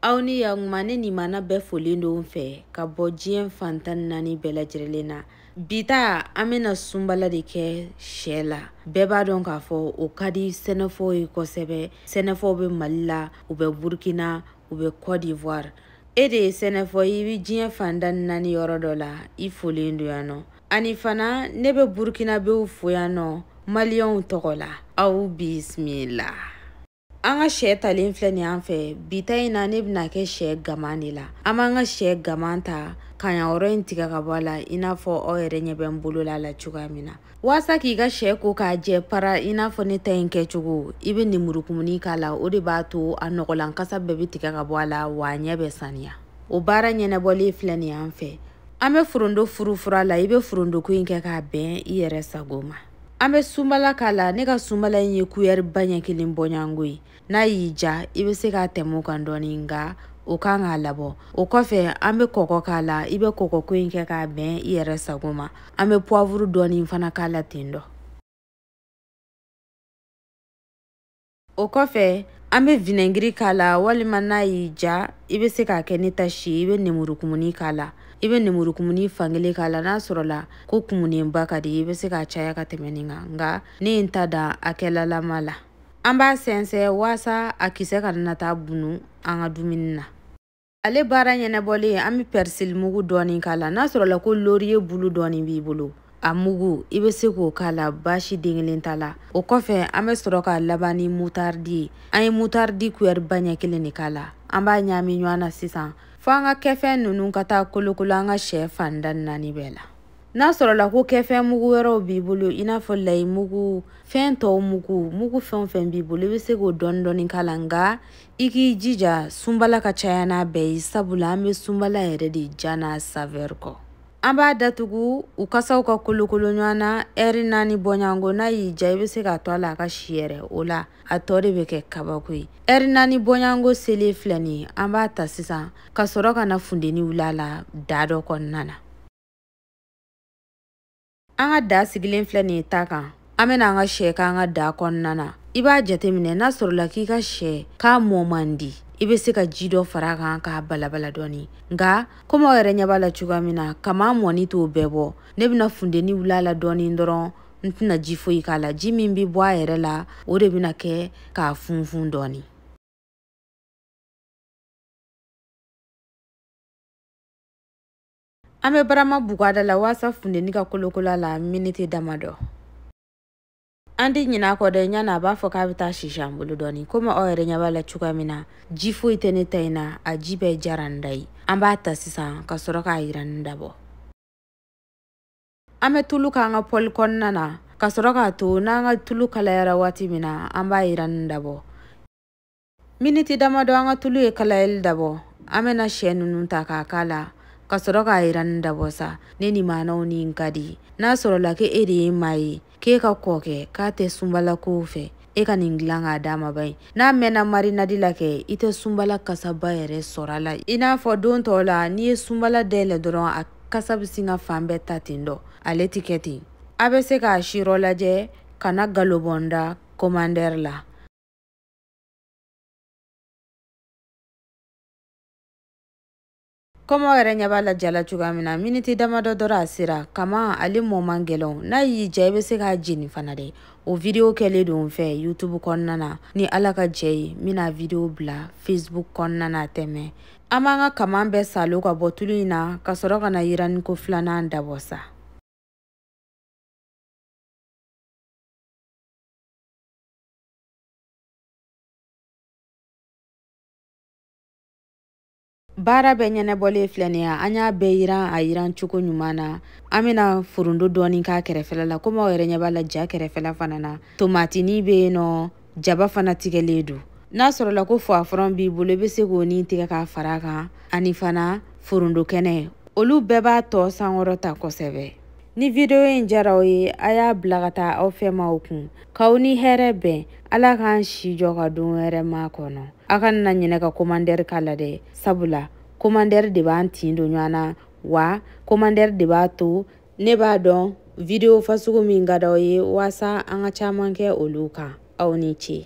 aw ni yakuma ne nimana bɛɛ folen don fɛ ka bɔ diɲɛ fan tan naani bɛɛ lajɛrɛlen na bi ta an bɛna sunbala de kɛ sɛ la bɛɛ b'a dɔn k'a fɔ o ka di sɛnɛfɔw ye kosɛbɛ sɛnɛfɔw bɛ mali la u bɛ burkina u bɛ cote d'ivoire e de ye sɛnɛfɔ i bɛ diɲɛ fan tan naani yɔrɔ dɔ la i folen don yan nɔ ani fana ne bɛ burkinabew fo yan nɔ maliyɛnw tɔgɔ la aw bisimila an ka sɛ talen filɛ nin an fɛ bi ta in na ne bɛna kɛ sɛ gaman de la an b'an ka sɛ gaman ta kanya yɔrɔ in tigɛ ka bɔ a la i n'a fɔ aw yɛrɛ ɲɛ bɛ n bolo la a la cogoya min na waasa k'i ka sɛ ko k'a jɛ para i n'a fɔ ne ta in kɛcogo i bɛ nemurukumuni k'a la o de b'a to a nɔgɔlan kasa bɛɛ bɛ tigɛ ka bɔ a la wa a ɲɛ bɛ saniya o baara ɲɛnabɔlen filɛ nin an fɛ an bɛ forondo furufur'a la i bɛ forondoko in kɛ k'a bɛn i yɛrɛ sago ma an bɛ sunbala k'a la ne ka sunbala in ye kuyɛri ba ɲɛ kelen bɔɲango ye n'a y'i ja i bɛ se k'a tɛmɛ o kan dɔɔni nka o kan k'a labɔ o kɔfɛ an bɛ kɔgɔ k'a la i bɛ kɔgɔko in kɛ k'a bɛn i yɛrɛ sago ma an bɛ puwavuru dɔɔni fana k'a la ten dɔ o kɔfɛ an bɛ vinɛgiri k'a la walima n'a y'i ja i bɛ se k'a kɛ ne ta si ye i bɛ nemurukumuni k'a la i bɛ nemurukumuni fankelen k'a la n'a sɔrɔla ko kumunenba ka di i bɛ se k'a caya ka tɛmɛ nin kan nka ne ye n ta dan hakɛlalama la an b'a sɛnsɛn waasa a kisɛ kana na taa bunu an ka dumuni na ale baara ɲɛnabɔlen an bɛ pɛrisili mugu dɔɔni k'a la n'a sɔrɔla ko loriye bulu dɔɔni b'i bolo a mugu i bɛ se k'o k'a la baasi den kelen t'a la o kɔfɛ an bɛ sɔrɔ k'a laban ni mutaridi ye an ye mutaridi kuyɛri ba ɲɛ kelen de k'a la an b'a ɲaami ɲɔgɔn na sisan fo an ka kɛfɛn ninnu ka taa kolokolo an ka sɛ fan tan naani bɛɛ la n'a sɔrɔla ko kɛfɛn mugu wɛrɛw b'i bolo i n'a fɔ layi mugu fɛn tɔw mugu mugu fɛn o fɛn b'i bolo i bɛ se k'o dɔɔni dɔɔni k'a la nka i k'i jija sunbala ka caya n'a bɛɛ ye sabula an bɛ sunbala yɛrɛ de ja n'a savɛri kɔ an b'a datugu u kasaw ka kolokolo ɲɔgɔn na ɛri naani bɔɲango n'a y'i ja i bɛ se k'a to a la a ka si yɛrɛ o la a tɔ de bɛ kɛ kabako ye ɛri naani bɔɲango selen filɛ nin ye an b'a ta sisan ka sɔrɔ ka na funteni wuli a la daa dɔ kɔnɔna na an ka daa sigilen filɛ nin ye ta kan an bɛna an ka sɛ k'an ka daa kɔnɔna na i b'a jateminɛ n'a sɔrɔla k'i ka sɛ k'a mɔ man di i bɛ se ka ji dɔ fara a kan k'a balabala dɔɔni nka komi aw yɛrɛ ɲɛ b'a la cogoya min na kaman mɔni t'o bɛɛ bɔ ne bɛna funteni wuli a la dɔɔni dɔrɔn n tɛna ji foyi k'a la ji min bɛ bɔ a yɛrɛ la o de bɛna kɛ k'a funfun dɔɔni An bɛ barama bugu a da la waasa funteni ka kolokolo a la miniti damadɔ. An tɛ ɲinɛ a kɔ dɛ yani a b'a fɔ k'a bɛ taa sisi an bolo dɔɔni komi aw yɛrɛ ɲɛ b'a la cogoya min na ji foyi tɛ ne ta in na a ji bɛɛ jara n da ye an b'a ta sisan ka sɔrɔ k'a yiranni dabɔ an bɛ tulu k'an ka pɔli kɔnɔna na ka sɔrɔ k'a to n'an ka tulu kalayara waati min na an b'a yiranni dabɔ miniti damadɔ an ka tulu ye kalayali dabɔ an bɛna sɛ ninnu ta k'a k'a la ka sɔrɔ k'a yiranni dabɔ sa ne ni maanaw nin ka di n'a sɔrɔla ko e de ye maa ye k'e ka kɔkɛ k'a tɛ sunbalakow fɛ e ka nin dilan k'a d'a ma ba ye n'a mɛnna marinadi la kɛ i tɛ sunbala kasaba yɛrɛ sɔrɔ a la i n'a fɔ don tɔw la n'i ye sunbala dayɛlɛ dɔrɔn a kasa bɛ sin ka fan bɛɛ ta ten dɔ ale tɛ kɛ ten a bɛ se k'a sirɔ lajɛ ka na galon bɔ n da komandɛri la komi aw yɛrɛ ɲɛ b'a la ja la cogoya min na miniti damadɔ dɔrɔn a sera kaman ale mɔ man gɛlɛn n'a y'i ja i bɛ se k'a jeni fana dɛ o video kɛlen don n fɛ youtube kɔnɔna na ni ala ka jɛ ye n bɛna video bila facebook kɔnɔna na tɛmɛ an b'an ka kaman bɛɛ salo ka bɔ tulu in na ka sɔrɔ ka na yiranniko filanan dabɔ sa baara bɛɛ ɲɛnabɔlen filɛ nin ye an y'a bɛɛ yiran a yiran cogo ɲuman na an bɛna foronto dɔɔni k'a kɛrɛfɛla la komi aw yɛrɛ ɲɛ b'a la ja kɛrɛfɛla fana na tomatini bɛ yen nɔ jaba fana tigɛlen don n'a sɔrɔla ko poivron b'i bolo i bɛ se k'o ni tigɛ k'a fara a kan ani fana foronto kɛnɛ olu bɛɛ b'a tɔɔ sankɔrɔta kosɛbɛ ni videwo in jara aw ye a y'a bila ka taa aw fɛmaaw kun K'aw ni hɛrɛ bɛn Ala k'an si jɔ ka don wɛrɛ makɔnɔ a kana ɲinɛ ka komandɛri k'a la dɛ sabula komandɛri de b'an tin don ɲɔgɔn na wa komandɛri de b'a to ne b'a dɔn video fasugu min ka d'aw ye waasa an ka caman kɛ olu kan aw ni ce